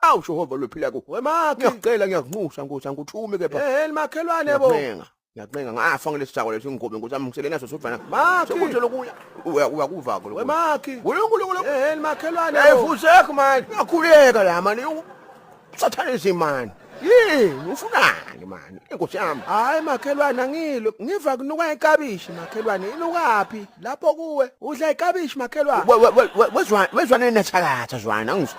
Awu Jehova lophila ku. Wemakhe. Ngiyacela ngiyakunxusa Nkosi angithume kepha. Eh makhelwane bo. Ngiyakuncenga. Ngiyakuncenga ngafa ngelesithako leso ingobe Nkosi yami ngisele naso sodwana. Makhi. Sekuthe lokuya. Uya uya kuvako lokho. Wemakhi. Unkulunkulu. Eh makhelwane. Hey fusek man. Ngakhuleka la man. Sathane man. Yini ufunani man? Inkosi yami. Hayi makhelwane angilo. Ngiva kunuka ikabishi makhelwane. Inukaphi? Lapho kuwe. Udla ikabishi makhelwane. Wezwa wezwa nenathakatha zwana ngizwa.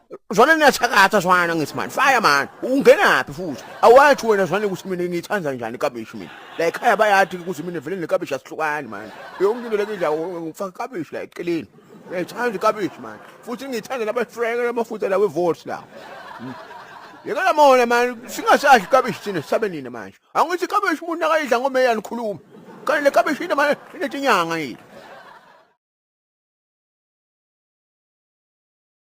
Zwane niyachakatha zwana ngithi mani fire mani ungenaphi futhi awathi wena zwane ukuthi mina ngiyithanda njani ikabishi mina la ekhaya bayathi ukuthi mina vele nekabishi asihlukani mani yonke into lekidla ngifaka ikabishi la eceleni ngiyithanda ikabishi mani futhi ngiyithanda nabafrenge namafuta la wevotes la yeka lamona mani singasadli ikabishi thina sisabe nini manje angithi ikabishi umuntu akayidla ngomeya nikhuluma kanti le kabishi yini manje inetinyanga yini